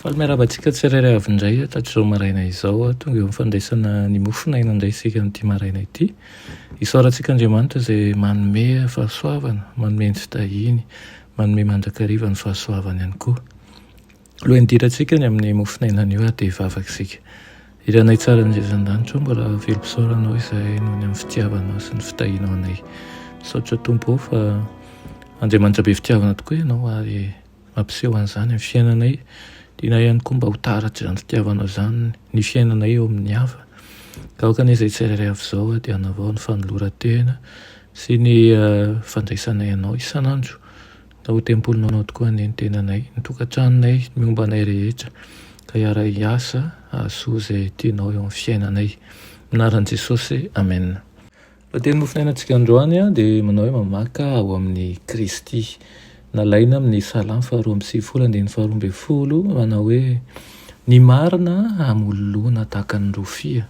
Faly miarahaba antsika tsirairay avy indray hatrizao maraina izao. Tonga eo amin'ny fandraisana ny mofon'aina indray isika amin'ity maraina ity. Isaorantsika Andriamanitra izay manome fahasoavana, manome ny fitahiany, manome mandrakariva ny fahasoavany ihany koa. Alohan'ny hidirantsika any amin'ny mofon'aina anio ary dia hivavaka isika. I Ranay tsara any an-danitra ao, mbola velom-pisaorana anao izahay noho ny amin'ny fitiavanao sy ny fitahianao anay. Misaotra Tompo fa Andriamanitra be fitiavana tokoa ianao ary Mampiseho an'izany ny fiainanay. Tianay ihany koa mba ho taratr'izany fitiavana izany ny fiainanay eo amin'ny hafa. Ka aoka anie izay tsirairay avy izao dia hanavao ny fanoloran-tena sy ny fandraisanay anao isan'andro. Ka ho tempolinao tokoa anie ny tenanay, ny tokantranonay, ny momba anay rehetra. Ka hiara-hiasa hahasoa izay tianao eo amin'ny fiainanay. Amin'ny anaran'i Jesosy, Amena. Ny teny mofonainantsika androany dia manao hoe mamaka ao amin'i Kristy. Nalaina amin'ny Salamo faharoa amby sivifolo andininy faharoa ambin'ny folo manao hoe Ny marina hamololoana tahaka ny rofia,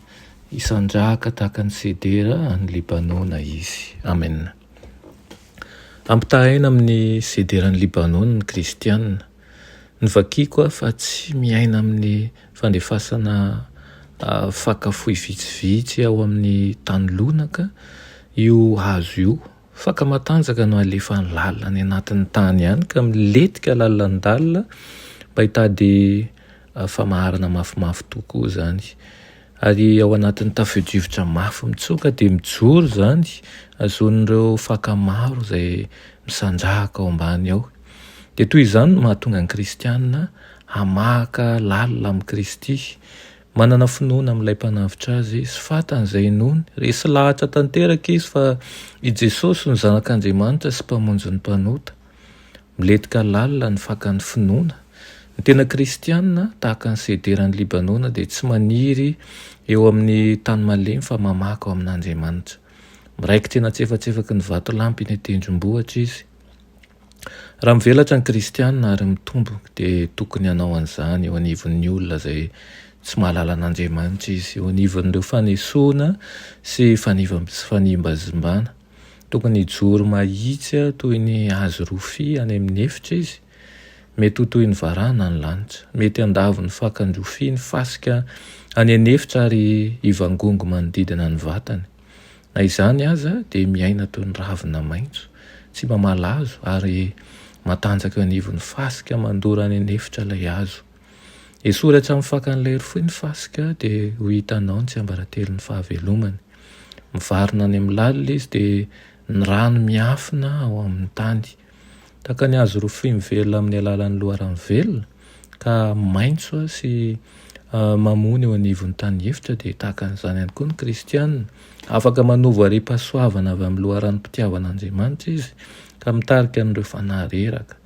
hisandrahaka tahaka ny sedera any Libanona Izy. Amena. Ampitahaina amin'ny sederan'i Libanona ny kristiana. Novakiako aho fa tsy miaina amin'ny fandefasana faka fohy vitsivitsy ao amin'ny tany lonaka io hazo io. Faka matanjaka no alefany lalina any anatin'ny tany any ka milentika lalandalina mba hitady famaharana mafimafy tokoa izany. Ary ao anatin'ny tafio-drivotra mafy mitsoka dia mijoro izany, azon'ireo faka maro izay misandrahaka ao ambany ao. Dia toy izany no mahatonga ny kristiana hamahaka lalina amin'i Kristy, manana finoana amin'ilay mpanavotra azy sy fantany izay inoany. Resy lahatra tanteraka izy fa i Jesosy no Zanak'Andriamanitra sy Mpamonjin'ny mpanota. Milentika lalina ny fakan'ny finoana. Ny tena kristiana, tahaka ny sederan'i Libanona, dia tsy maniry eo amin'ny tany malemy fa mamaka ao amin'Andriamanitra. Miraikitra eny an-tsefatsefaky ny vatolampy eny an-tendrombohitra izy. Raha mivelatra ny kristiana ary mitombo dia tokony hanao an'izany eo anivon'ny olona izay tsy mahalala an'Andriamanitra izy, eo anivon'ireo fanesoana sy fanimbazimbana. Tokony hijoro mahitsy toy ny hazo rofia any amin'ny efitra izy, mety ho toy ny varahana ny lanitra. Mety handavo ny fakan'ny rofia ny fasika any an'efitra ary hivangongo manodidina ny vatany. Na izany aza, dia miaina toy ny ravina maitso, tsy mba malazo, ary matanjaka eo anivon'ny fasika mandora any an'efitra ilay hazo. Esory hatramin'ny fakan'ilay rofoy ny fasika, dia ho hitanao ny tsiambaratelon'ny fahavelomany. Mivarina any amin'ny lalina izy, dia ny rano miafina ao amin'ny tany. Tahaka ny hazo rofia mivelona amin'ny alalan'ny loharano velona ka maitso sy mamony eo anivon'ny tany efitra, dia tahaka an'izany ihany koa ny kristiana. Afaka manovo hariam-pahasoavana avy amin'ny loharanom-pitiavan'Andriamanitra izy, ka mitarika an'ireo fanahy reraka,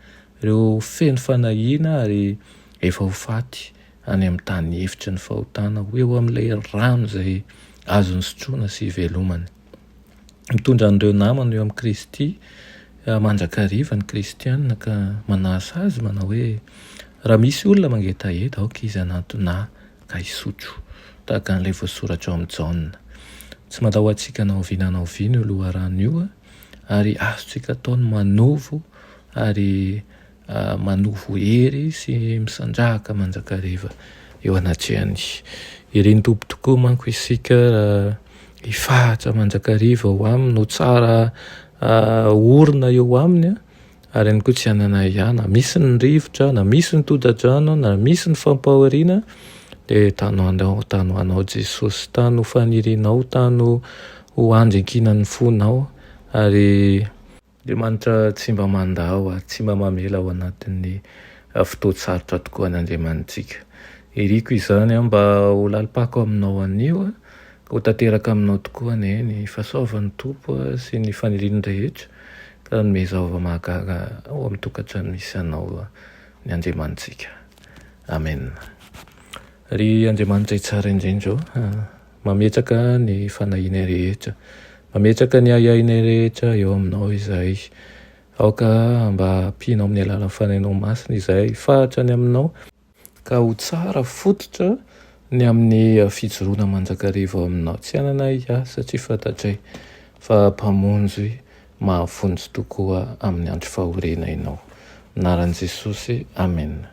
ireo feno fanahiana ary efa ho faty, any amin'ny tany efitry ny fahotana, ho eo amin'ilay rano izay azony sotroina sy ivelomany. Mitondra an'ireo namany eo amin'i Kristy mandrakariva ny kristiana ka manasa azy manao hoe, Raha misy olona mangetaheta, aoka izy hanantona ahy ka hisotro, tahaka an'ilay voasoratra ao amin'i Jaona. Tsy matahoantsika na oviana na oviana io loharano io ary azontsika atao ny manovo ary manovo hery sy misandrahaka mandrakariva eo anatrehan'ny ireny Tompo tokoa manko isika hifahatra mandrakariva ho aminy no tsara orina eo aminy ary ihany koa tsy hanana ahiahy na misy ny rivotra na misy ny toda-drano na misy ny fampahoriana dia tano anao tano ho anao Jesosy tano ho fanirianao tano ho andry ankinan'ny fonao ary Andriamanitra tsy mba mandà ho ary tsy mba mamela ao anatin'ny fotoan-tsarotra tokoa an' Andriamanitsika. Iriko izany aho mba ho lalim-pako aminao anio, ka ho tanteraka aminao tokoa anie ny fahasoavan'ny Tompo sy ny faniriany rehetra, ka hanome zaova mahagaga ao amin'ny tokantrano misy anao ny Andriamanitsika. Amen. Ry Andriamanitra tsara indrindra ô! Mametraka ny fanahianay rehetra. Mametraka ny ahiahinay rehetra eo Aminao izahay. Aoka mba hampianao amin'ny alalan'ny Fanahinao Masina izahay hifahatra ny Aminao, ka ho tsara fototra ny amin'ny fijoroana mandrakariva ao Aminao. Tsy ananay ahy, satria fantatray fa Mpamonjy mahavonjy tokoa amin'ny andro fahoriana Ianao. Amin'ny anaran'i Jesosy, amena.